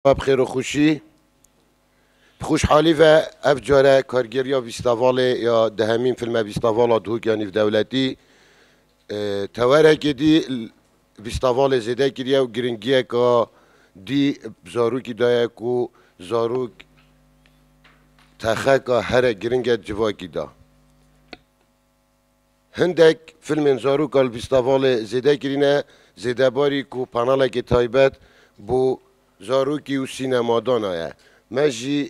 Xwe bi xêr û xweşî, bi xweşhalî ve ev care kargeriya vîstavalê ya dehemîn fîlme Vîstavala Duhok ya Nîvdewletî tewerekê dî vîstavalê zêde kiriye û giringiyeke dî bi zarokî daye ku zarok texeka here giring e civakî da. Hindek fîlmên zarokal vîstavalê zêde kirîne, zêde barî ku panelekê taybet bo zarokî û sînema dana ye. Me jî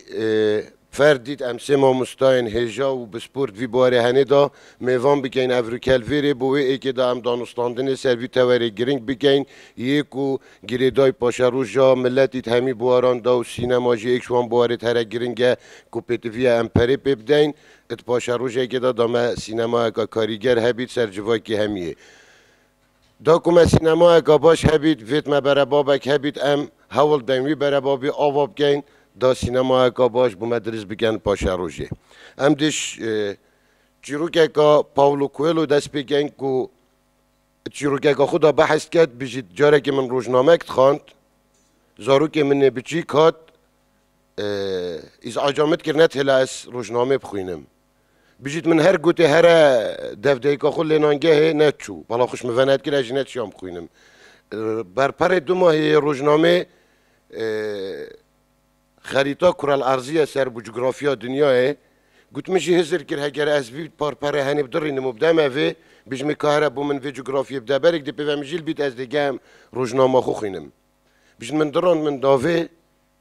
ferd dît em sê mamostayên hêja û bi sport vî barê henê da mêvan bikeyn ev rûkel vê rê bo wê êkê da em danûstandinê ser vî tewerê girîng bikeyn yê ku girêdayî paşeroja miletî hemî buaran da û sînema jî êk ji wan buarê here girîng e ku pêtiviya em perê pê bideyn Di paşerojekê de da me sînemayeka karîger hebît ser civakî hemiyê. Da ku me sînemayeka baş hebît, vêt me berebabek hebît, em hewl deyn wî berebabî ava bikeyn, da sînemayeka baş bi me diris bikin paşerojê. Em dê çîrokeka Paulo Coelho dest pê kein ku di çîrokeka xwe de behs dike, dibêjît, Carekê min rojnamek dixwand, zarokê min ê biçîk hat, Îzaca min dikir ne têla ez rojnamê bixwînim. Bijît min her gotê here devdeyika xwe lênangehê ne çû. Bala xwe ji min ve ne dikir ez jî ne çiyan bixwînim. Berperê du mahê yê rojnamê xerîta Kural Arziye ser bû cografiya dinyayê. Got min jî hizir kir heger ez vî parpere henê bidirînim û bidem evê, bijimê ka here bo min vê cografiyê bide berek dê pê ve min jîl bît ez dê gehim rojnama xwe xwînim. Bijît min dirand min davê.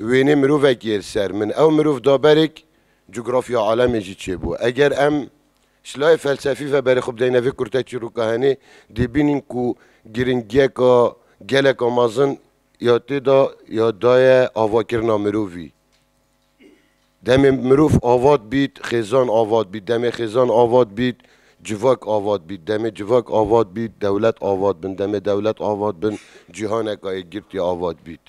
Wênê mirovek yê li ser min. Ew mirov da berek cografya alemê jî çêbû. Eger em ji layê felsefî ve berê xwe bideyne vê kurte çîrûka henê, dê bînîn ku giringiyeka geleka mezin ya tê de ya daye avakirina mirovî. Demê mirov avat bît, xêzan avat bît. Demê xêzan avat bît, civak avat bît. Demê civak avat bît, dewlet avat bin. Demê dewlet avat bin, cîhaneka yekgirtî avat bît.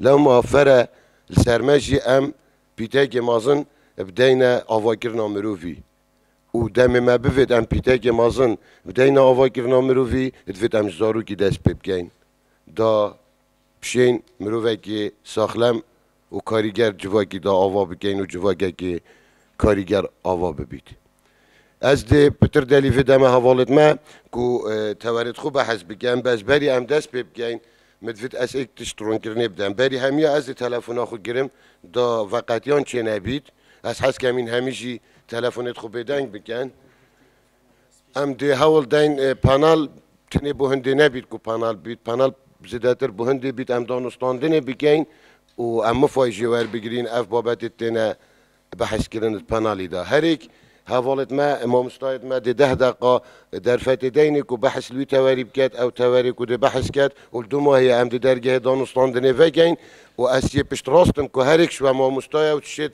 Lewma fere li ser me jî em pîtekê mezin bideyne avakirina mirovî û demê me bivêt em pîtekê mezin bideyne avakirina mirovî, divêt em ji zarokî dest pê bikein. Da pişên mirovekî saxlem û karîger civakî da ava bikein û civakekî karîger ava bibît. Ez dê pitir delî vê deme hevalê dime ku tewerê di xwe behes bike. Em bezberî em dest pê bikein Min divît ez êk tişt rûnkirinê bidim. Berî hemiya ez ê telefona xwe girim da ve qetiyan çênebît. Ez hez kemîn hemî jî telefonê xwe bêdeng bikin. Em dê hewl deyn panel tenê bo hindê nebît ku panel bît. Panel zêdetir bo hindê bît. Em danûstandinê bikin û em mifayê jê werbigirîn. Ev babetê têne Behs kirin li panelî de herêk hevalêt me, mamostayêt me dê deh deqiqa derfetê deynê ku behs li wî tewerî biket, ew tewerê ku dê behs ket û li du mahê ye em di dergehê danûstandinê vegeyn û ez yê piştrast im ku herêk ji we mamosta ye û tu şêt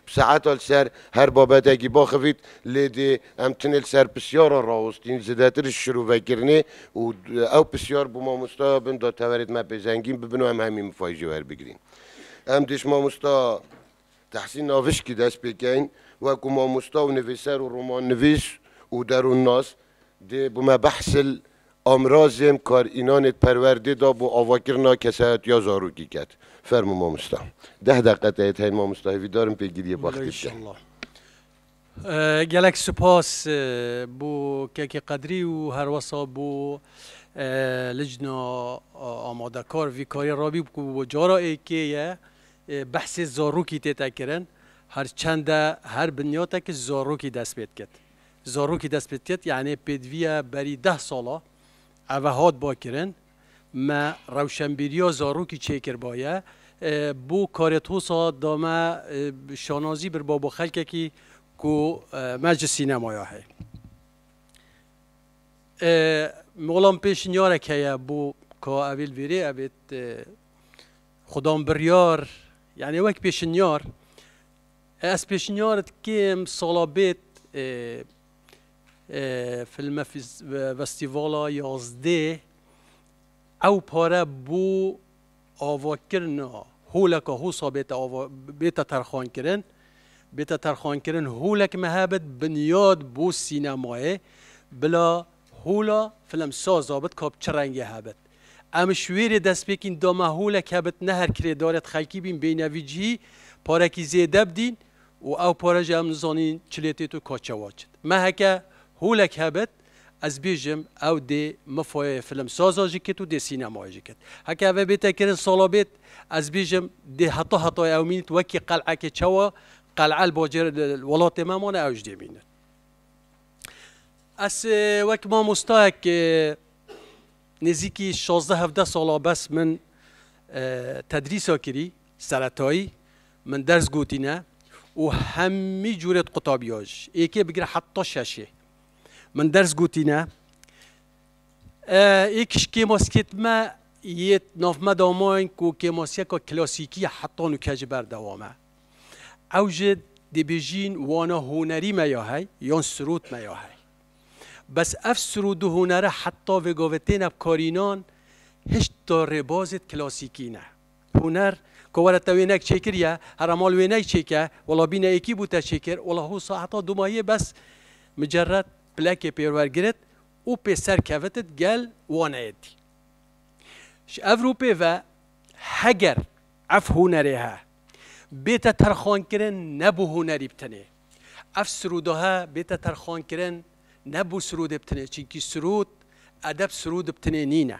bi saeta li ser her babetekî baxivît lê dê em tinê li ser pisyara rawestîn zidetir ji şirovekirinê û ew pisyar bû mamostaya bin da tewerêt me pê zengîn bibin û em hemî mifayî jê werbigirîn. Em dê ji mamosta. Tehsîn Navişkî dest pê kein weku mamosta û nivîser û romannivîs û derûnnas dê bi me behsil amrazêm kar înanê perwerdê da bo avakirina kesayetiya zarokî ket. Fermo mamosta. Deh deqe teyê teyn mamosta hêvîdarim pê giriyê baxtê bike. Gelek spas bo Kekê Qedrî û herwesa bo licna amadekar vî karî ra bî ku bo cara êkê ye behsê zarokî tête kirin her çende her binyatekî zarokî dest pê diket. Zarokî dest pê diket yanî pêdiviya berî deh sala eve hat ba kirin. Me rewşenbîriya zarokî çêkirbaye. Bo karê Thosa da me şanazî birba bo xelkekî ku me ji sînemaya heye. Mala min pêşniyarek heye bo ka evîl vêrê ebêt. Xwe dam biryar, yanî wek pêşniyar. Ez pêşniyar dikim sala bêt Filmefestîvala yazdê ew pare bo avakirina holeka Hosa bêta terxankirin. Bêta terxankirin holek mehebit binyad bo sînemayê. Bila hola filemsaza bit ka bi çi rengê hebit. Em ji wê rê destpêkîn da me holek hebit ne her kirêdarê di xelkî bîn bêyne vî cihî parekî zêde bidîn û ew pare jî em nizanîn çi lê tê tu ka çawa çit. Me heke holek hebit ez bêjim ew dê min foyeyê film saza jî kit û dê sînemayê jî kit. Heke eve bête kirin sala bêt ez bêjim dê heta hetayê ew mînit wekî qel'ekê çawa qel'e li bacêr li welatê me mane ew jî dê mînit. Ez wek mamostayek nêzîkî şazdeh hevdeh sala bes min tedrîsa kirî Seretayî min ders gotîne û hemî cûrê di qutabîya ji êkê bigire heta şeşê min ders gotîne. Êkiş kêmasikêt me yê nav me da mayîn ku kêmasiyeka klasîkî ye heta nûke ji ber dewam e. Ew ji dê bêjîn wana hunerî me ya hey yan sirût me ya hey. Bes ev sirûd û hunere heta vêgavê têne bikarînan hişta rêbazê di klasîkî ne. Huner, Ko were te wênek çêkiriye, hera mal wênek çêke, wela bîne êkî bû te çêkir, wela hû saeta du mayê bes micerret plekê pêrwer girit û pê ser kevitit gel waneye dî. Ji ev rûpê ve heger ev hunerê he, bête terxankirin ne bû hunerî btinê. Ev sirûda he bête terxankirin ne bû sirûdê btinê, çinkî sirûd, edeb sirûd btinê nîne.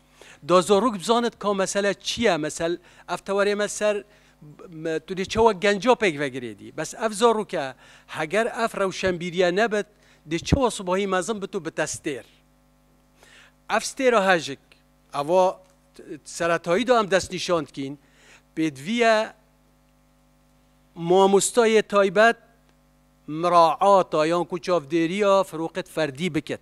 Da zarok bizanit ka mesele çi ye, mesel ev tewerê me ser tu dê çawa genca pêk vegirê dî. Bes ev zaroke heger ev rewşenbîriye nebit dê çawa sibahî mezin bit û bite stêr. Ev stêra hejik eva seretayî de em destnîşan dikîn pêdivî ye mamostayê taybet miraata yan ku çavdêriya firoqet ferdî bikit.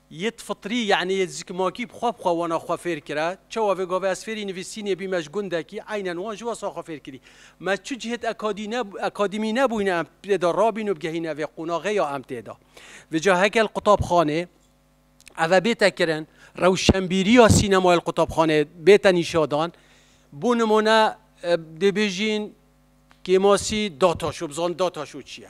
Yit fitrî yanî yê zikmakî bi xwe bi xwe wana xwe fêr kira. Çawa vê gavê ez fêrî nivîsînê bî me ji gundekî eynen wan ji wesa xwe fêr kirî. Me çi cihêt akadîmî nebûyne em tê de rabîn û bigehîne vê qonaxê ya em tê de. Vê ca heke li qutabxanê eve bête kirin, rewşenbîriya sînemayê li qutabxanê bête nîşadan, bo nimune dê bêjîn Kêmasî data şo, bizanî data şo çi ye.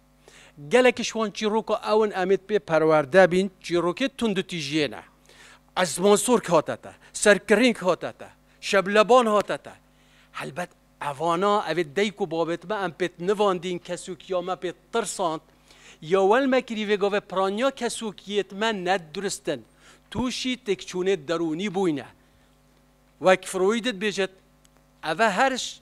Gelekî ji wan çîroka ew in em ê pê perwerde bîn, çîrokê tunditîjiyê ne. Ezman Sorg hate te, Serkirîng hate te, Şebleban hate te. Helbet evana, evê dayik û bavê me em pê nivandîn, kesokiya me pê tirsand. Ya wel me kirî vê gavê piraniya kesokiyê me ne dirust in. Tûşî têkçûnê derûnî bûyne. Wek Freud dibêjit, eve her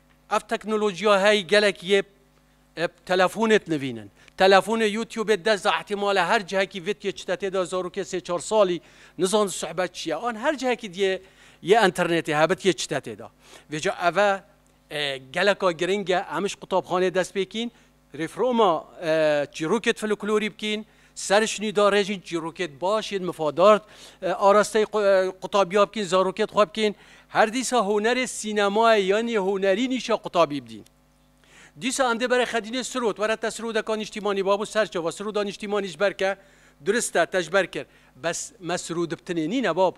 Ev teknolojiya heyî gelek yê bi telefonê dinivînin. Telefonê Youtubê dest da îhtîmalê her cihekî vit yê çitetê de zarokê sê çar salî nizan suhbet çi ye an her cihekî diyê yê enternetê hebit yê çitetê de. Vêca eve geleka giring e em ji qutabxanê dest pê kîn Rêfroma çîrokêt foloklorî bikîn, serişnî da rejîn çîrokêt baş yên mifadar arasteyî qutabîya bikîn, zarokêt xwe bikîn. Her dîsa hunerê sînemayê yanî hunerî nîşa qutabî bidîn. Dîsa em dê berê xedînê sirot, were te sirodeka nîştîmanî babo serçava, siroda nîştîmanî ji ber ke durist e, te ji ber kir. Bes me sirodibtinê nîne bab.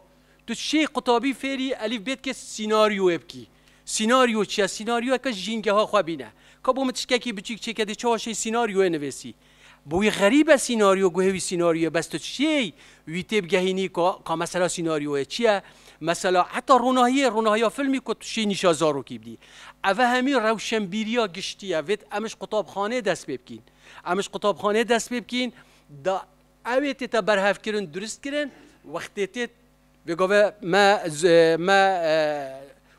Tu çi qutabî fêrî elîfbêtkê sînaryoyê bikî. Sînaryo çi ye? Sînaryoyeke jîngeha xwe bîne. Ka bo min tiştekî biçûk çêke dê çawa şêy sînaryoyê nivîsî? Bo wî xerîb e sînaryo guhê wî sînaryo ye bes tu şêy wî tê bigehînî ku ka mesela sînaryoyê çi ye? Mesela heta ronahiyê, ronahiya filmî ku tu şêy nîşa zarokî bidî. Eve hemî rewşenbîriya giştî ye. Vêt em ji qutabxaneyê dest pê bikîn. Em ji qutabxaneyê dest pê bikîn da ewê tê te berhevkirin, duristkirin, wextê tê Bi gavê me me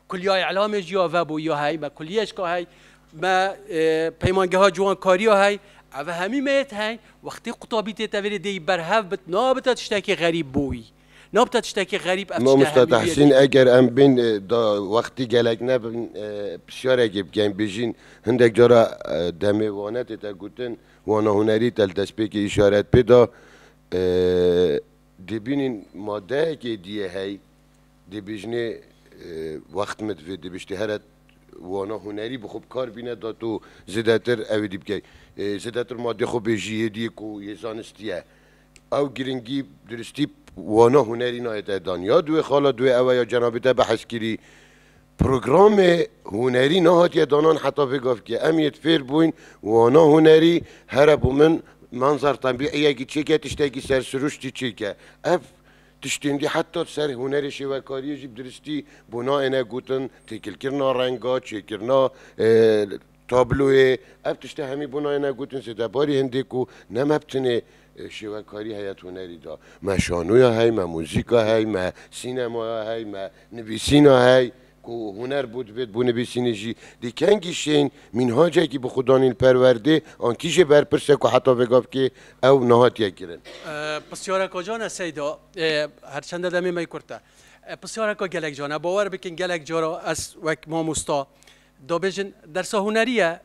Kuliya Îlamê jî ya vebû ya hey, me kuliyê şka hey, me peymangeha ciwankariya hey, ev hemî me yê teng, wextê qutabî tê tevêrê dê yî berhev bit, nabite tiştekî xerîb bo wî. Nabite tiştekî xerîb ev tiştê Mamosta hemî wî ye Tehsîn, eger em bên da wextî gelek nebin pirsiyarekê bikin, bijîn hindek cara demê wane tê te gotin, wana hunerî te li destpêkê îşaret pê da, Dê bînîn madeyekê dîye hey, dê bêjinê wext min divê, dê biştê here wana hunerî bi xwe bi kar bîne da tu zêdetir ew ê dî bikey. Zêdetir ma dê xwe bêjî yê dîyê ku yê zanistî ye. Ew girîngî diristî wana hunerî nayê te dan. Ya di wê xala di wê ew e ya cenabê te behs kirî Programê hunerî nehatiye danan heta vê gavkê. Em yê fêr bûyn wana hunerî here bo min manzar tebîîyekî çêke, tiştekî sersiruştî çêke. Ev tiştên dî heta di ser hunerê şêwekarîyê jî bi diristî bo nayêne gotin, têkilkirina renga, çêkirina Tabloyê, ev tiştê hemî bû nayêne gotin zêde barî hindê ku ne me bi tenê şêwekarî heye di hunerî de. Me şanoya hey, me muzîka hey, me sînemaya hey, me nivîsîna hey ku huner bû divêt bû nivîsînî jî. Dê kengî şên mînhacekî bi xwe danîn li perwerdê an kî jê berpirse ku heta vêga bikê ew nehatiye kirin. Pirsyareke can e Seyda, her çende demê me kurt e. Pirsyareke gelek can e. Bawer bikin gelek cara ez wek mamosta, Dabêjin, dersa hunerî ye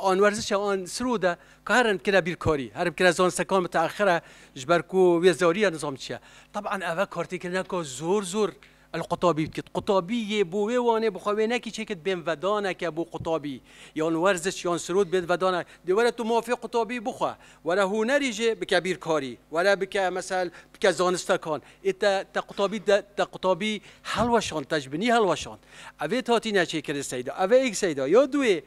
an werzişe an sirû de ka herin bikire bîrkarî, herin bikire zanistekan miteexir e ji ber ku wê zarî ye nizam çi ye. Teban eve kartêkirineke zor zor li qutabî dikit. Qutabî yê bo wê wanê bi xwe wê nekî çêkit bên vedaneke bo qutabî yan werziş yan sirû dibên vedanek. Dê were tu mafê qutabî bixwe. Were hunerî jî bike bîrkarî, were bike mesel bike zanistekan. Ê te te qutabî de te qutabî hilweşand, te ji binî hilweşand. Ev ê tatîne çêkirin seyda. Ev ê seyda ya dû yê.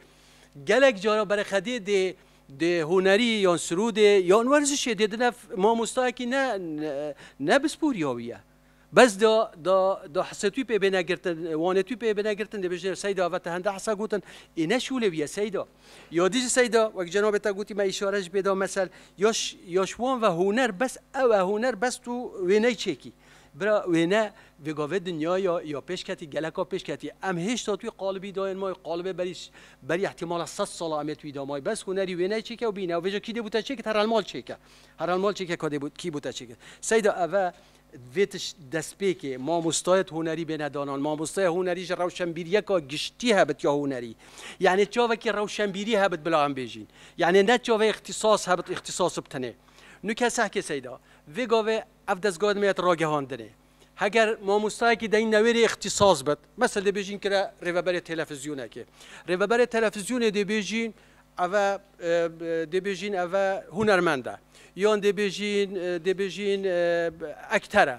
Gelek cara bereqedê dê dê hunerî yan sirûdê yan werzişê dê dine mamostayekî ne ne bispor ya wî ye. Bes da da da Hisetû pê bêne girtin, wanetû pê bêne girtin dê bêjin Seyda vete hende hisa gotin ê ne şûlê bîye Seyda. Ya dî jî Seyda wek cenabê te gotî me îşare jî pê da mesel ya ya ji wan ve huner bes ew e huner bes tu wê ney çêkî. Bira wêne vê gavê dinya ya ya pêş ketî geleka pêş ketî em hêşta tu yê qalibî dayên ma yê qalibê berî berî îhtîmala sed sala em ê tu yî da ma yî bes hunerî wê ney çêke û bîne ew vêje kî dê bû te çêkit herelmal çêke herelmal çêke ka dê bû kî bû te çêkit. Seyda ev e. vê destpêkê mamostayet hunerî bêne danan. Mamosteya hunerî ji rewşenbîriyeka giştî hebit ya hunerî. Yanê çavekî rewşenbîrî hebit bila em bêjîn. Yanê ne çavê îxtîsas hebit îxtîsas btine. Nu ke seh ke seyda. Vê gavê ev dezgah dime yet ragihandinê. Heger mamostayekî dayîn newêrê îxtîsas bit. Mesel dê bêjîn kire rêveberê telefizyonekê. Rêveberê telefizyonê dê bêjîn. Ev e dê bêjîn ev e hûnermend e yan dê bêjîn dê bêjîn ekter e.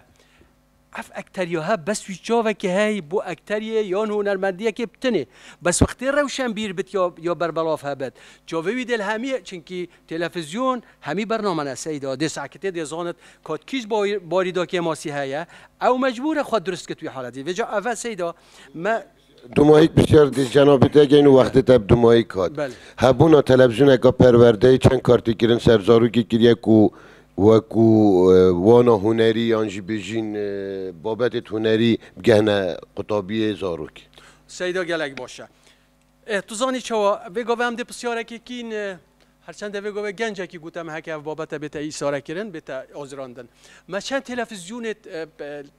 Ev ekteriya he bes wî çavekê heyî bo ekteriyê yan hûnermendiyekê bi tinê. Bes wextê rewşenbîr bit ya ya berbelav hebit. Çavê wî dêl hemî çinkî telefizyon hemî bername ne Seyda dê sakitê dê zanit ka ti kîj barî da kêmasî heye. Ew mecbûr e xwe dirust kit wî haletî. Vêca ev e Seyda me. Dumayîk bi şerdî cenabî Degên û wextê te bi dumayîk hat. Hebûna televîzyoneke perwerdeyê çend kartîkirin ser zarokê kiriye ku wekû wana hunerî yan jî bêjîn babetên hunerî bigehne qutabiyê zarokê? Seyda gelek baş e. Êh tu zanî çawa vê gavê em dê pisyarekê kîn her çendê vê gavê gencekî gote me heke ev babete bête îsarekirin bête azirandin me çend televîzyonê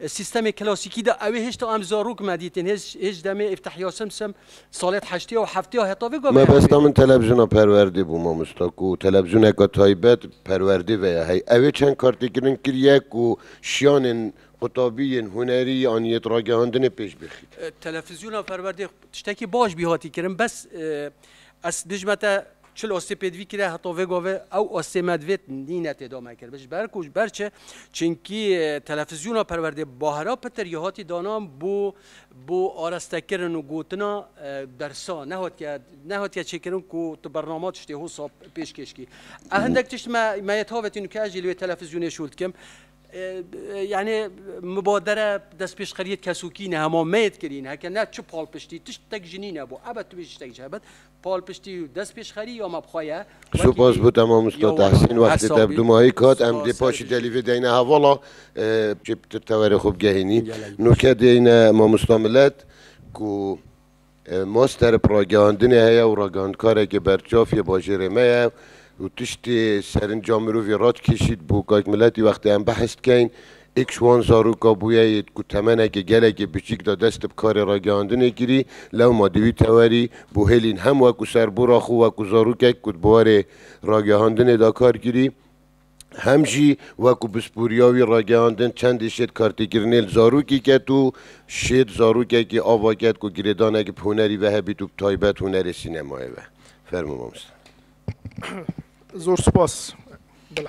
Sîstemê klasîkî de ewê hêj ta em zarok me dîtin, hêj hêj demê îftehiya sem sem salêt heştê û heftê ya heta vê gavê erê Mebesta min bêjin. televîzyona perwerdê bû mamosta ku televîzyoneke taybet perwerdê veye hey. Ewê çend kartêkirin kiriye ku şiyanên qutabî yên hunerî an yê ragihandinê pêş bixîn. Televîzyona perwerdê tiştekî baş bî hatî kirin bes ez dijme te Çil ostê pê divî kire heta vê govê ew ostê me divê nîne tê dame kir. Ji ber ku ji ber çi? Çinkî telefizyona perwerdê Bahira Pitir ya hatî dana bo bo arestekirin û gotina bersa nehatiye nehatiye çêkirin ku tu bernama tiştê hosa pêşkêş kî. E hindek tişt me me yê tavêtin û ke ez jî li wê telefizyonê şûr dikim. Yanê mibadere destpêşxeriyê kesokî ne hema me yê dikirîn heke ne çi palpiştî tiştek ji nîne bo. Ebe tu bêjî tiştek ji hev be Palpiştî û destpêşxerî ya me bi xwe ye. Supas bo te mamosta Tehsîn. Wextê te bi dûmahîk hat em dê paşî telîfê deyne hevala kê bi tu tewerê xwe bigehînî. No ke deyne mamosta milet ku master bi ragihandinê heye û ragihandkarekê berçav yê bajêrê me ye û tiştê serinca mirovî radikêşî bo kak miletî wextê em behs dikeyn Êk ji wan zaroka bûye yê ku temenekê gelekî biçîk de dest di bi karê ragihandinê kirî, lewma di wî tewerî bû hêlîn hem weku serbora xwe weku zarokek ku di buwarê ragihandinê de kar kirî, hem jî weku pisporiya wî ragihandin çendê şêt kartêkirinê li zarokî ket û şêt zarokekî ava ket ku girêdanekî bi hunerî ve hebît û bi taybet hunerê sînemayê ve. Fermo mamoste. Zor spas. Bila.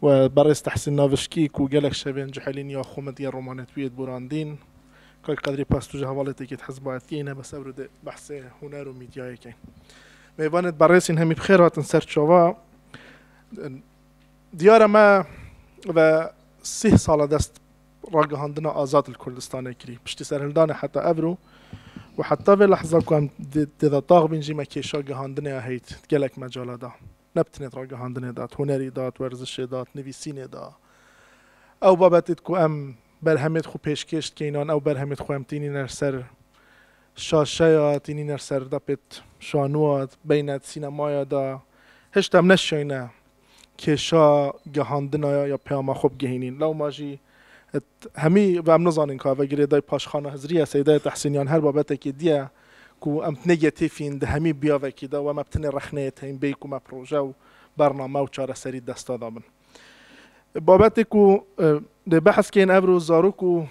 We berêz Tehsîn Navişkî ku gelek şevên cihêlîn ya xwe medyaya romanetbûyê de borandîn. Kak Qedrî Pas tu ji hevalêtekî di hizbayetiyê ne bes ewro dê behsê huner û medyayê ke. Mêvanê di berêsîn hemî bi xêr hatin ser çava. Diyar e me ve sih sal e dest ragihandina azad li Kurdistanê kirî. Piştî serhildanê heta ewro û heta vê lehza ku em tê de tax bîn jî me kêşa gihandinê ya heyît di gelek mecala da. ne bi tenê di ragihandinê de, di hunerî de, di werzişê de, di nivîsînê de. Ew babetê ku em berhemê di xwe pêşkêş dikeyn an, ew berhemê di xwe em tînîne li ser şaşeya, tînîne li ser dapê şanuwa beyne di sînemaya de. Hişt em neşiyayne kêşa gihandina ya ya peyama xwe bigihînîn. Lewma jî hemî ve em nizanin ka vegirê dayê paşxana Hizrî ye, Seydayê Tehsîn yan her babetekê dî ye, Ku em tenê yetîfîn di hemî biyavekî de û em eb tenê rexneyê teyîn bêyî ku me proje û bername û çareserî desta dabin. Babetê ku dê behs keyên evro zarok û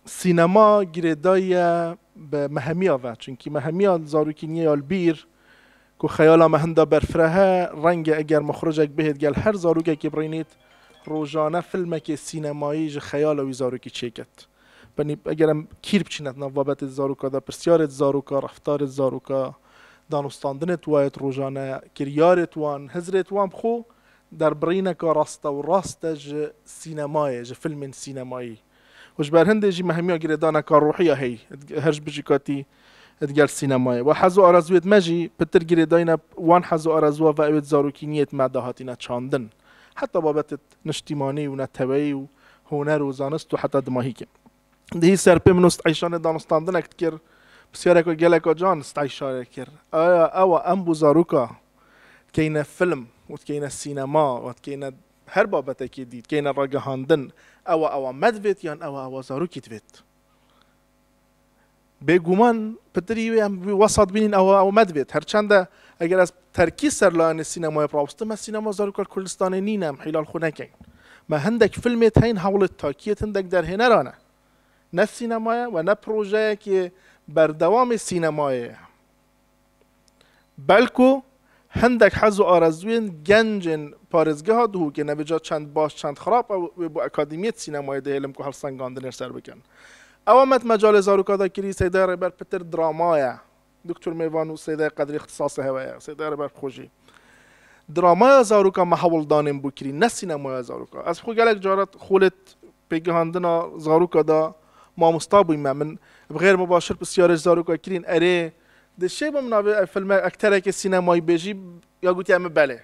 sînema girêdayiye bi mehemiya ve. Çunkî mehemiya zarokî nîye ya li bîr ku xeyala me hinda berfireh e. Renge eger mixûricek bihêt gel her zarokekî birînît rojane filmekê sînemayî ji xeyala wî zarokî çêket. Benî eger em kîr biçîne di nav babetê di zaroka de, pirsyarê di zaroka, reftarê di zaroka, danûstandinê di wayê di rojan e, kiryarê di wan, hizrê di wan bi xwe derbirîneka raste û rast e ji sînemayê, ji filmên sînemayî. Û ji ber hindê jî me hemiya girêdaneka rohî ya heyî di her ji bijî katî di gel sînemayê. Wa hez û arezûyê di me jî pitir girêdayîne wan hez û arezûa ve ew ê di zarokîniyê di me de hatîne çandin. Heta babetê di niştimanî û neteweyî û huner û zanist û heta dimahî ke dihî ser pê min û Steyşanê danûstandinek dikir, pisyareka geleka can Steyşanê kir, Aya ewa em bû zaroka dikeyne film û dikeyne sînema û dikeyne her babetekê dî, dikeyne ragihandin, ewa ewa me divêt yan ewa ewa zarokî divêt? Bêguman pitirî wê em wî wesat bînîn ew ew me divêt. Her çend e eger ez terkî ser layanê sînemayê birawustim me sînema zarokar Kurdistanê nîn e em hîlal xwe nekin. Me hindek filmê teyên hewlê takiyê hindek derhêneran e. Ne sînema ye we ne projeyekê berdewamê sînemayê ye. Belku hindek hez û arezûyên gencên parêzgeha dihûkê ne bi ca çend baş çend xirab ew wê bo Akadîmiyet Sînemayê dihêlim ku helsengandinêr ser bikin. Ewa me di mecalê zarûka de kirî Seyda Rêber pitir drama ye. Duktur Mêvan û Seyda Qedrî îxtisasê hewe ye. Seyda Rêber bi xwe jî dramaya zarûka me hewldanên bû kirî ne sînemaya zarûka. Ez xwe gelek caran xûlêt Pêkgihandina zaroka da mamosta bûy me. Min bi xêr mibaşir pisyarê ji zaroka kirîn, erê di şêba min navê filme ekterekê sînemayî bêjî ya gotî em belê.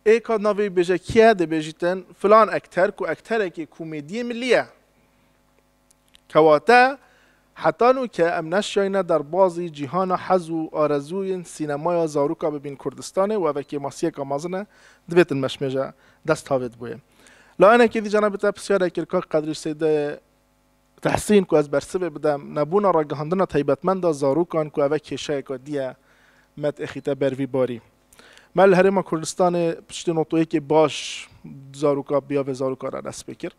Ê ka navê wî bêje kî ye? Dê bêjîtin filan ekter ku ekterekê komedîyê milî ye. Kewate, heta nû ke em neşiyayîne derbazî cîhana hez û arezûyên sînemaya zaroka bibîn Kurdistanê û ev ekê masiyeka mezin e, divê din meşmêje dest tavê diboye. Layanekê dî cenabê te pirsyarek kir kak Qedrî Sêde Tehsîn ku ez bersivê bidem, nebûna ragihandina taybetmend a zarokan ku eve kêşeyeka dî ye me têxîte ber vî barî. Me li Herêma Kurdistanê piştî notoyekê baş zaroka biyavê zarokan re dest pê kir.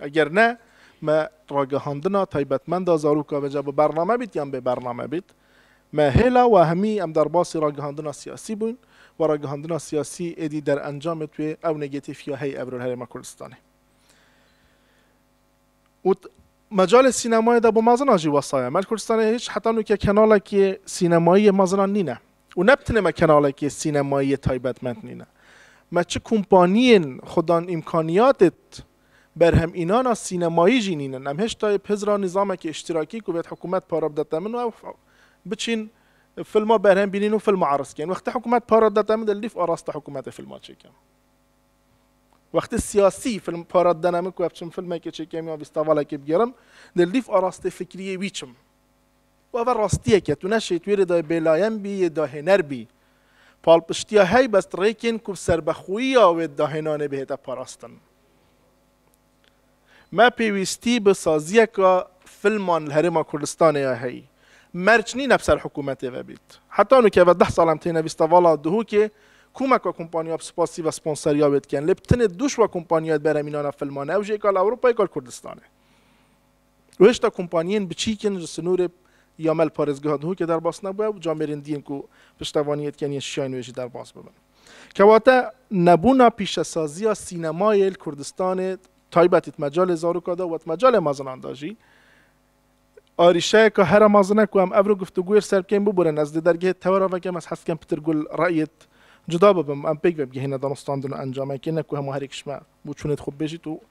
Eger ne, me ragihandina taybetmenda zaroka veca bi bername bît yan bê bername bît, me hêla wahimî em derbasî ragihandina siyasî bûyn û ragihandina siyasî êdî derencamê twê ew negetîf ya hey evrol Herêma Kurdistanê. Û mecalê sînemayê de bo mazinan jî wesa ye. Me li Kurdistanê hîç heta nûkê kenalekê sînemayî yê mazinan nîne. Û ne bi tinê me kenalekê sînemayî yê taybetmend nîne. Me çi kompanîyên xwe dan îmkanîyatê Berhemînana sînemayî jî nîn in. Em hêşta yê bi Hizra nîzamekî îştîrakî ku vêt hikûmet para bide te min û ew biçîn filma berhem bînîn û filma eriz kirin. Wextê hikûmet para dide te min dê li dîf arasta hikûmetê filma çêkim. Wextê siyasî film para didene min ku ev çim filmekê çêkim yan vîstavalekê bigêrim dê li dîf arastê fikrîyê wî çim. Û ev e rastiyek e, tu ne şêtwêrê dayê bêlayen bî yê dahêner bî. Palpiştiya helbest rêkên ku bi serbexwîya wê dahênanê bihête parastin. Me pêwîstî bi saziyeka filman li Herêma Kurdistanê ya heyî. Merc nîn ev ser hikûmetê ve bît. Heta nûkê ev e deh sal em têne vîsta vala Duhûkê komeka kompaniya bi spasî ve sponseriya wê dikin. Lê bi tinê dû şiva kompaniya di berhemînana filman e ew jî êkal Ewropa êkal Kurdistanê. Rewşta kompaniyên biçîk yên ji sinûrê ya mel parêzgeha Duhokê derbas nebûye û camêrên din ku piştevanî yê dikin yên şiyayên wê jî derbas bibin. Kewate nebûna pîşesaziya sînemayê li Kurdistanê taybetî di mecalê zaroka de û di mecalê mezinan de jî arîşeyeke here mezin e ku em evro guftugûyê li ser bikên biborîn. Ez dê dergehê tewera vekim, ez hez dikim pitir gul reyê cuda bibim û em pêk vebigihîne danûstandin û encamekê ne ku hemû herêk ji me bû çûnê di xwe bibêjît û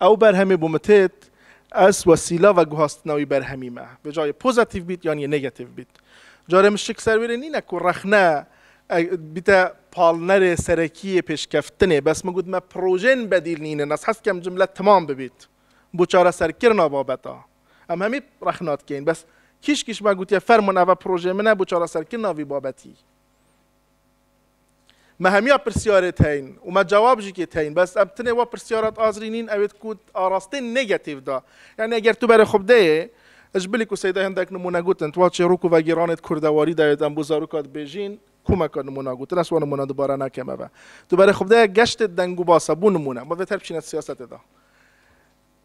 Ew berhemê bo min têt, ez wesîla veguhastina wî berhemî me. Vê cayê pozetîv bît yanî negetîv bît. Carê min şik ser wê rê nîne ku rexne bîte palnerê serekî yê pêşkeftinê. Bes min got me projeyên bedîl nînin. Ez hez dikim cimle timam bibît bo çareserkirina babeta. Em hemî rexna dikeyin. Bes kîş kîş me gotiye fermûn eve projeyê min e bo çareserkirina vî babetî. Me hemiya pirsyarê teyn û me cewab jî kê teyn bes em tinê wa pirsyara azrî nîn ew ê ku arastê negetîv da. Yanî eger tu berê xwe bideyê ji bilî ku Seyda hindek nimûne gutin tu wa çêrok û vegîranê di kurdewarî de yê em bo zaroka dibêjîn komeka nimûna gutin ez wa nimûna dubare nakim eve. Tu berê xwe bideyê geştê dengûbase bû nimûne. Ma vê ter biçîne siyasetê de.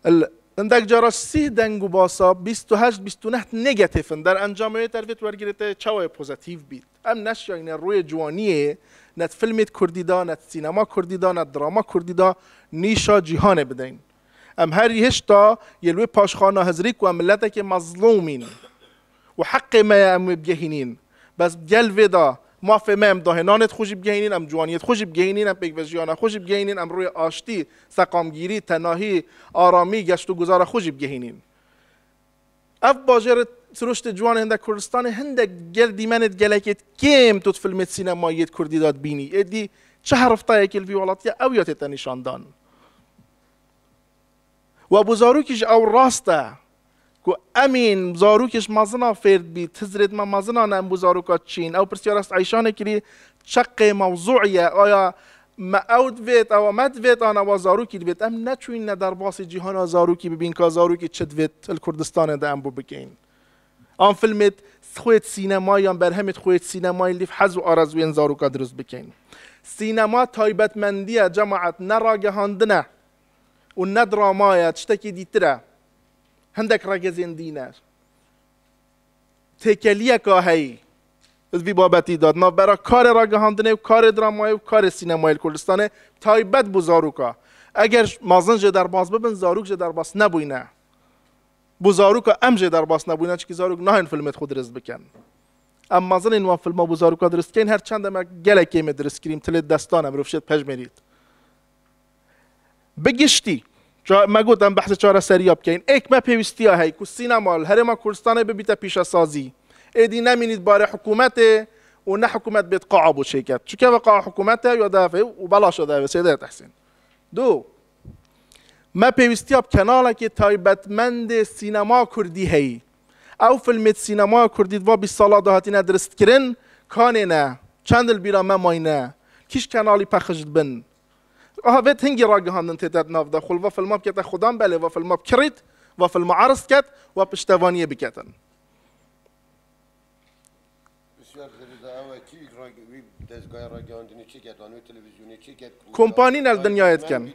Li hindek cara sih deng û basa bîst û heşt bîst û neh negatif in. Derencamê wê dervê tu wergirê te yê çawa yê pozatîf bît. Em neşiyayîne rûyê ciwaniyê yê ne di filmê kurdî de, ne di sînema kurdî de, ne di drama kurdî de nîşa cîhanê bideyn. Em herî hişta yê li wê paşxana hizirî ku em miletekê mezlûm în. û heqê me ye em wê bigehînîn. Bes gel vê da, mafê me em dahê nanê xwe jî bigehînîn, em ciwaniyê xwe jî bigehînîn, em pêkvejiyana xwe jî bigehînîn, em rûyê aştî, seqamgîrî, tenahî, aramî, geştûguzara xwe jî bigehînîn. Ev bajêr sirûştê ciwan ê hindek Kurdistanê hindek gel dîmenê di gelekê di kêm tut filmê sînemayî di kurdî da dibînî. Êdî çi heriftayekî li vî welatiya ew ya tê tenîşandan. We bû zarokî ji ew rast e ku em ên zarokê ji mezina fêr dibî, ti zirê dima mezina ne em bû zaroka çi yin? Ew pirsiyar est Eyşanê kirî çeqê mewzûî ye, aya me ew divêt, ewa me divêt an ewa zarokî divêt. Em neçûyîn ne derbasî cîhana zarokî bibîn ka zarokî çi divêt li Kurdistanê de em bû bikeyin. An filmê xwêt sînemayî yan berhemê xwêt sînemayî lîv hez û arezûyên zaroka dirust bikeyin. Sînema taybetmendiye cemaet ne ragehandine û ne drama ye, tiştekî dîtir e. Hindek regezên dîner. Têkeliyeka heyî li vî babetî de di navbera karê ragihandinê û karê dramayê û karê sînemayê li Kurdistanê taybet bû zaroka. Eger mezin jê derbas bibin, zarok jê derbas nebûyne. Bû zaroka em jê derbas nebûyne çikî zarok nayên filmê di xwe dirist bikin. Em mezin ên wan filma bû zaroka dirist dikeyin, her çend em gelek kêmê dirist kirîm, tilê di destan e, mirov şêt pejmêrît. Bi giştî, me got em behsê çareseriya bikeyn. Êk me pêwîstiya heye ku sînema li Herêma Kurdistanê bibîte pîşesazî. Êdî ne mînît barê hikûmetê û ne hikûmet bêt qaa bo çêket. Çi keve qaa hikûmet e ya di hevê û belaş e di hevê Sêde Tehsîn. Du, me pêwîstiya bi kenalekê taybetmendê sînema kurdî heye. Ew filmê di sînemaya kurdî di va bîst sala de hatîne diristkirin, kanê ne, çend li bîra me mayne, kîj kenalî pexş dibin, Aha vê tingî ragihandin têde di nav de xwe li va filma bikete xwedan belê va filma bi kirît, va filma erz diket va piştevaniyê biketin. Kompanîn el dinyayê diken.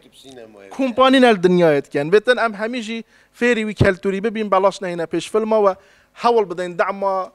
Kompanîn el dinyayê diken. Vê tin em hemî jî fêrî wî keltûrî bibîn belaş neyne pêş filma we hewl bidin dema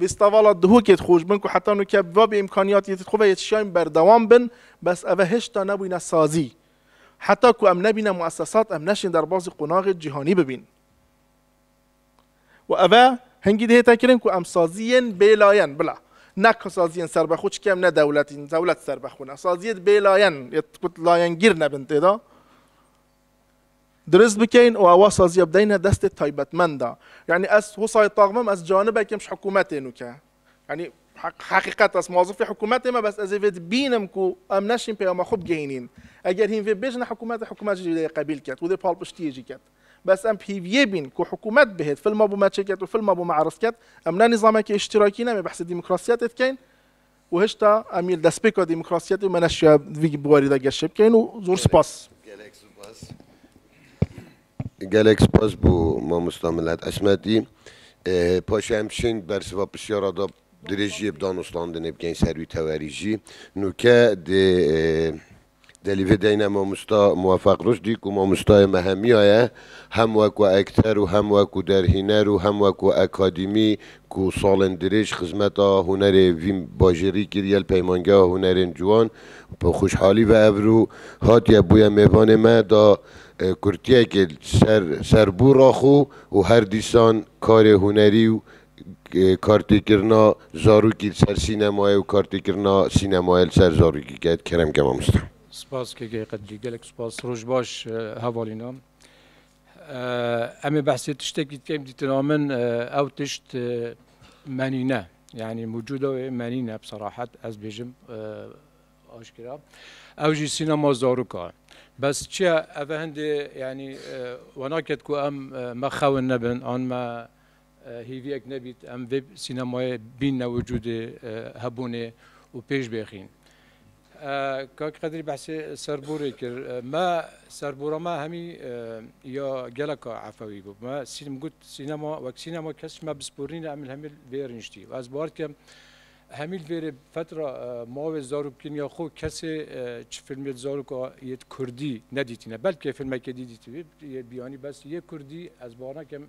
Festivala Duhokê dixwîş bin ku heta nuke bi vabî îmkanîyatî di xwe ve yê çîyayîn berdewam bin, bes eve hêşta nebûyîne sazî. Heta ku em nebîne muessesat em neşên derbasî qonaxê cîhanî bibîn. Û eve hingî dihête kirin ku em sazîyên bêlayen bila ne sazîyên serbexwe çikî em ne dewletîn, dewlet serbexwe ne. Sazîyê di bêlayen yê ku layengîr nebin tê de. dirist bikeyn û ewa saziya bideyne destê taybetmenda. Yanî ez Husayê Taxmim ez canibekim ji hikûmetê nûke. Yanî heqîqet ez mozifê hikûmetê me bes ez ê vê dibînim ku em neşîn peyama xwe bigihînîn. Eger hîn vê bêjine hikûmetê hikûmet jî dê qebîl ket û dê palpiştiyê jî ket. Bes em bi hêviyê bîn ku hikûmet bihêt filma bo me çêket û filma bo me erzket. Em ne nîzamekê îştîrakî ne em ê behsê demokrasiyetê dikeyn. û hişta em yê li destpêka demokrasiyetê û meneşiya di vî buwarî de geşê bikeyn û zor sipas. Gelek sipas. Gelek sipas bo mamosta Milat Esmetî. Paşê em şên ber siva pisyara da dirêjiyê bi danûstandinê bikeyn ser wî tewerî jî. Nûke di Di alî vê deyne mamosta Muwefeq Ruşdî ku mamostayê me hemiya ye, hem wekû ekter û hem wekû derhîner û hem wekû ekadîmî ku salên dirêj xizmeta hunerê vî bajêrî kiriye li Peymangeha Hunerên Ciwan bi xuşhalî ve evrû hatiye bûye mêvanê me da kurtiyekê ser serbû raxû û her dîsan karê hunerî û Kartêkirina zarokî li ser sînemayê û kartêkirina sînemayê li ser zarokî ket kerem ke mamoste. Spas KG Qedrî gelek spas roj baş hevalîna. Em ê behsê tiştekî dikin dîtina min ew tişt menîne yanî mûcuda wê menîne bi serahet ez bêjim aşkera ew jî sînema zaroka bes çi ye ev e hindê yanî we naket ku em me xewin nebin an me Hêviyek nebît em vê sînemayê bînne wicûdê hebûnê û pêş bêxîn. Kak Qedrî behsê serborê kir. Me serbora me hemî ya geleka efewî bû. Me min got sînema wek sînema kes ji me bisporîne em li hemî li vê rîniştî. Ez bar dikim hemî li vê rê fetra mavê zarokî ya xwe kesê çi filmê li zaroka yê di kurdî nedîtîne. Belkê filmekê dî dîtibî yê biyanî bes yê kurdî ez bar nakim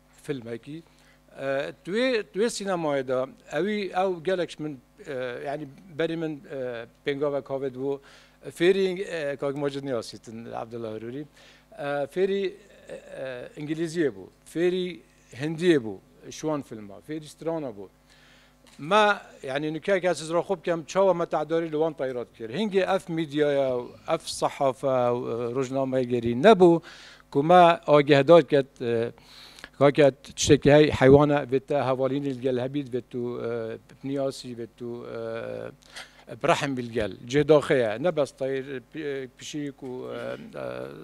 Filmekî tuê tuê sînemayê de ewî ew gelek min yanî berî min pêngavek havê dibû fêrî Kak Macid Niyasîtin Abdullah Hurûrî fêrî îngilîziyê bû fêrî hindiyê bû şiwan filma fêrî strana bû Me yanî nikeke siz ra xwe bikem çawa me tehdarî li wan tayra dikir. Hingê ev mîdyaya û ev sehafe û rojnamegerî nebû ku me agehdar ket kake tiştekî hey heywane vê te hevalînî li gel hebî divê tu biniyas jî vê tu birehm bî li gel. Cih daxê ye. Ne bes tayr, pişik û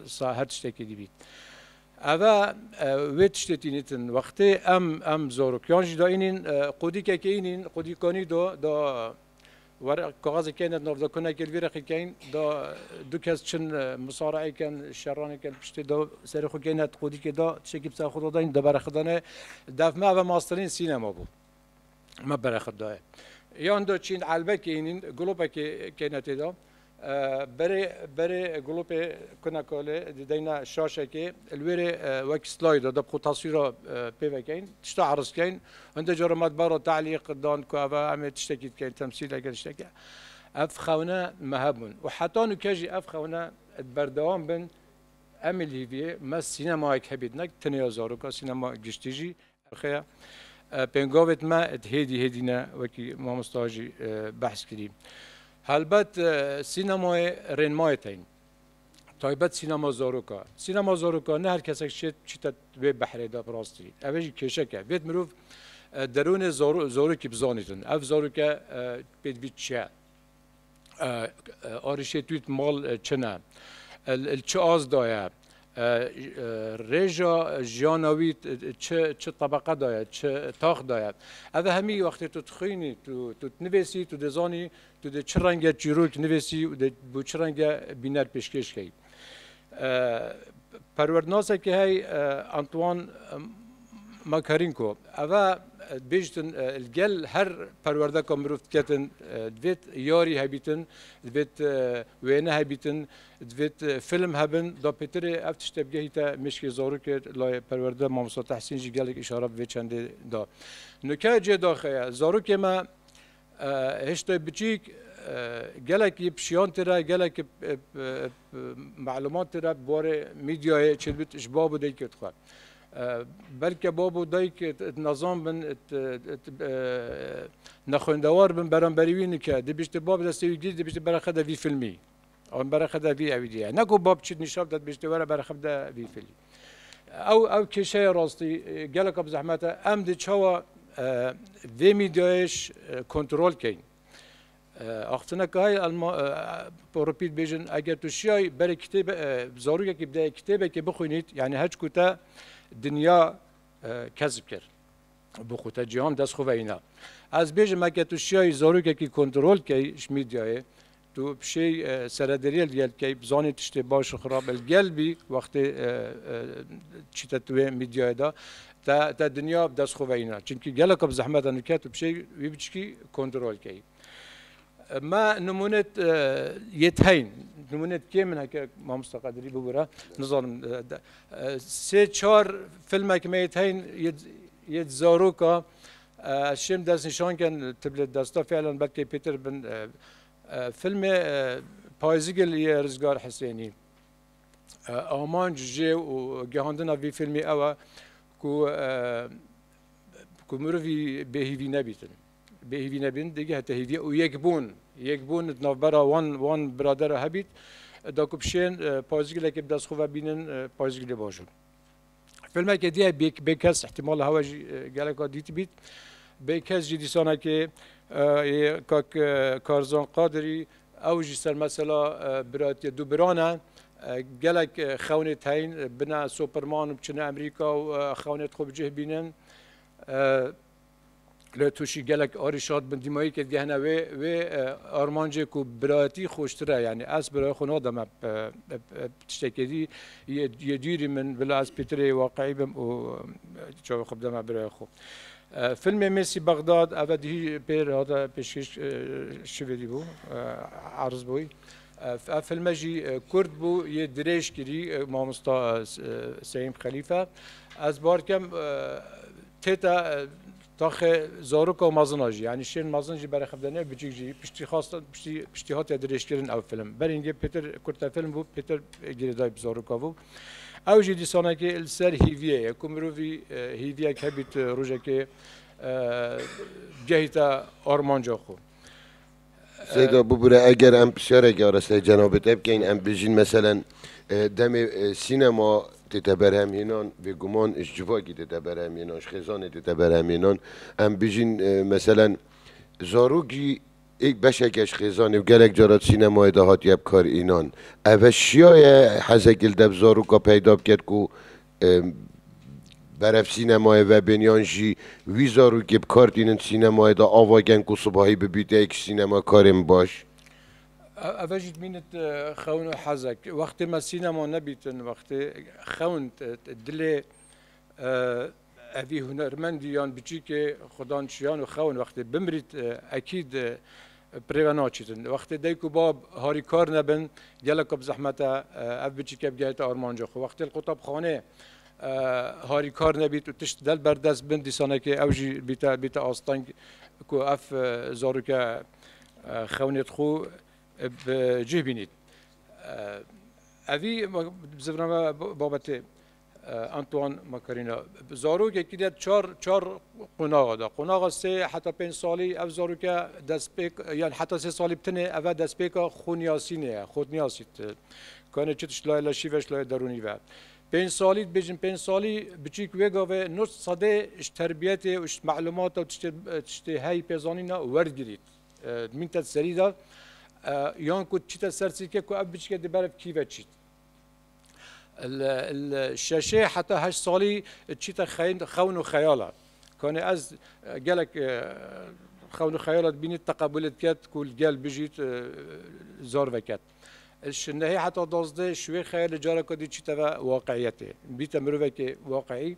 sa her tiştekî dîbît. Eve wê tiştê tînîtin wextê em em zorokiyan jî da înîn qûdî kekê înîn qûdî konî do da were kaxezê keyne nav da kune kêl vî reqî keyn da du kes çin musaraê ken şeranê ken piştê da serê xwe keyne qûdî kê da tişekî bi ser xwe da dayîn da bere xwe dane def me eve masterîn sînema bû. me bere xwe daye. Yan do çîn elbekê hînîn gulopekê kêne têda. Berê berê gulopê kuna kolê dideyna şaşekê li wê rê wek slayê da da bi xwe taswîra pê vekeyn, tişta eriz keyn. Hinde caran me di bara te'lîq dan ku eva em ê tiştekî dikeyn, temsîleke tişteke. Ev xewne me hebûn û heta nûke jî ev xewne di berdewam bin. Em ê li hîviyê me sînemayek hebî ne tenê ya zarokan, sînema giştî jî Rixeya pêngavêt me di hêdî hêdî ne wekî mamosta jî behs kirî. Helbet sînemayê rênmayê teyîn. Taybet sînema zaroka. Sînema zaroka ne her kesek şêt çîte wê behrê de bi rastî. Eve jî kêşek e. Vêt mirov derûnê zarokî bizanîtin. Ev zaroke pê dibî çi ye? Arişê tu yit mal çin e. Li çi az da ye? Rêja jiyana wî çi tebeqe da ye, çi tax da ye? Ev e hemî wextê tu dixwînî, tu dinivêsî, tu dê zanî tu dê çi renge çîrok nivêsî û dê bi çi renge bîner pêşkêş key. Perwerdnasekî hey Antoine Makarinko ev e dibêjtin li gel her perwerdeka mirov diketin divêt yarî hebîtin, divêt wêne hebîtin, divêt film hebin. Da pêtirê ev tişt tevgehî te mêşkê zarokê layê perwerde Mamosta Tehsîn jî gelek îşare bi vê çendê da. Nûke cê daxeye zarokê me Hiştê biçîk gelekî pişiyantî re gelekî melumatî re bi warê mîdyayê çêdibit ji bab û dayikê dixwe. Belke bab û dayik nizan bin nexwendewar bin beramberî wî nike dibîşte bab destê wî gîrî dibîşte bera xede vî filmî. Em bereqede vî evî diye. Ne ku bab çi nîşab de dibêjte were bereqede vî filî. Ew ew kêşeye rastî geleka bi zehmet e. Em di çawa vê mîdyayêş kontrol keyin. Axtineke hay Porupî dibêjin eger tu şiyay berê kitêb zarokekî bide kitêbekê bixwînît yanî heç ku te dinya kesb kir. Bi xwe te cîhan dest xwe veyna. Ez bêjim eke tu şiyayî zarokekî kontrol key ji mîdyayê Tu pişê seredariyê li gel bikey, bizanê tiştê baş û xirab e. Li gel bî wextê çîte tu wê mîdyayê de, te te dinya bi dest xwe veyîna. Çimkî geleka bi zehmet e nûke tu pişê wî biçikî kontrol bikey. Me nimûne yê teyn, nimûne di kêm min heke mamosta Qadirî bibûre, nizanim sê çar filmeke me yê teyn yê yê di zaroka, Ez şêm dest nîşan ken tu li desta fîlan belkê pêtir bin filmê Payizigil yê Rizgar Hisênî. Amanc jê û gihandina vî filmê ew e ku ku mirovî bêhîvî nebîtin. Bêhîvî nebîn digî heta hîvî û yekbûn yekbûn di navbera wan wan biradera hebît. Da ku bi şên Payizigilekê bi dest xwe ve bînin Payizigilê baş in. Filmekê diye bê kes ihtimal hewa jî geleka dîtibît. Bê kes jî dîsanekê kak Karzan Qadirî ew jî ser mesela biratiye du biran e. Gelek xewnê teyîn bine Superman û biçine Emerîka û xewnê xwe bi cih bînin. Lê tu şî gelek arî şad bin dîmayîkê digehne wê wê armancê ku birayetî xweştir e yanî ez birayê xwe nadim me tiştekê dî yê dûrî min bila ez pêtirê waqî bim û çavê xwe bideme birayê xwe. Filmê Mêsî Bexdad eve dihî pêr hate pêşkêş şivê dî bû erz bûy. Ev filme jî kurd bû yê dirêj kirî mamosta Seyim Xelîfe. Ez bar kem tête taxê zarok û mezina jî yanî şên mezin jî berexivdene biçîk jî piştî xas piştî piştî hatiye dirêjkirin ew film. Berî ngê pêtir kurte film bû pêtir girêdayî bi zaroka bû. Ew jî dîsanekî li ser hîviyê ye ku mirovî hîviyek hebît rojekê gehîta armanca xwe. Seyda bibûre eger em pişarek ya resteyê cenabê te bikeyn em bêjîn meselen demê sînema tête berhemhînan bêguman ji civakî tête berhemhînan ji xêzanê tête berhemhînan em bêjîn meselen zarok jî êk beşeke ji xêzanê û gelek cara di sînemayê de hatiye bikar înan. Eve şiyaye hezekî li dev zaroka peyda biket ku Berev sînemayê vebên yan jî wî zarokê bi kar tînin sînemayê de ava gen ku sibahî bibîte yek ji sînemakarên baş? Ev e jî dimînit xewn û hezek. Wextê me sînema nebîtin, wextê xewn dilê evî hunermendî yan biçîkê xwe dan çiyan û xewn wextê bimirît ekîd Pirê ve naçîtin. Wextê dayik û bab harî kar nebin, geleka bi zehmet e ev biçîke bigehîte armanca xwe. Wextê li qutabxanê harî kar nebît û tişt del ber dest bin, dîsanekê ew jî bîte bîte asteng ku ev zarûke xewnê di xwe bi cih bînît. Evî bi zivna me babetê Antoine Macarena bi zarokekî de çar çar qonaxa de. Qonaxa sê heta pênc salî ev zaroke destpêk yan heta sê salî bitinê ev e destpêka xwûniyasînê ye. Xwûniyasî tu kanê çi tu ji layê leşî ve ji layê derûnî ve. Pênc salî dibêjin pênc salî biçîk wê gavê nus sedê ji terbiyetê û ji me'lûmata û tiştê tiştê heyî pêzanîna werdigirî. Mîn te di serî de yan ku çî te ser sî ke ku ev biçike di ber ev kî ve çît. Şeşê heta heşt salî çîte xewn û xeyal e. Kanê ez gelek xewn û xeyala dibînî teqebûlê diket ku li gel bijît zor veket. Ji nehê heta dozdeh şûyê xeyal li careke dî çîte ve waqîyetê. Bîte mirovekê waqî.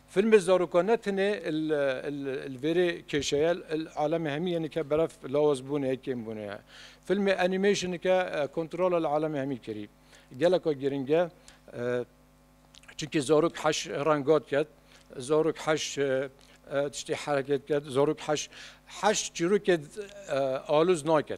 Filmê zarokan ne tenê li vêrê kêşeye li alemê hemî yên dike berf lawaz bûnê ye, kêm bûnê ye. Filmê animation dike kontrola li alemê hemî kirî geleka girîng e. Çimkî zarok heş renga dike, zarok heş tiştê hereket dike, zarok heş heş çîrokê alûz nake.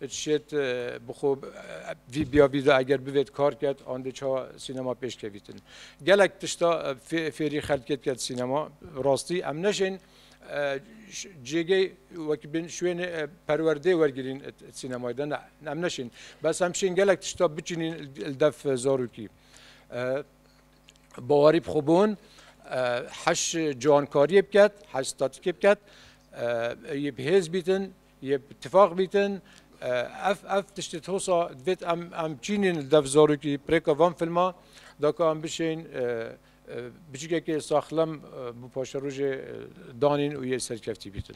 It şêt bi xwe vî biya vî de eger bivêt kar ket an dê çawa sînema pêş kevîtin. Gelek tişta fêrî xelkê diket sînema. Rastî em neşên cêgê wekî bên şwênê perwerdeyê wergirîn sînemayê de ne. Em neşên. Bes em şên gelek tişta biçînîn li dev zarokî. Bawerî bi xwe bon heş ciwankariyê biket, heş statikê biket. Ê bi hêz bîtin Yê bi tifaq bîtin ev ev tiştê thosa divêt em em çînîn li dev zarokî pirêka van filma da ka em bişên biçikekê saxlem bi paşerojê danîn û yê serkeftî bîtin.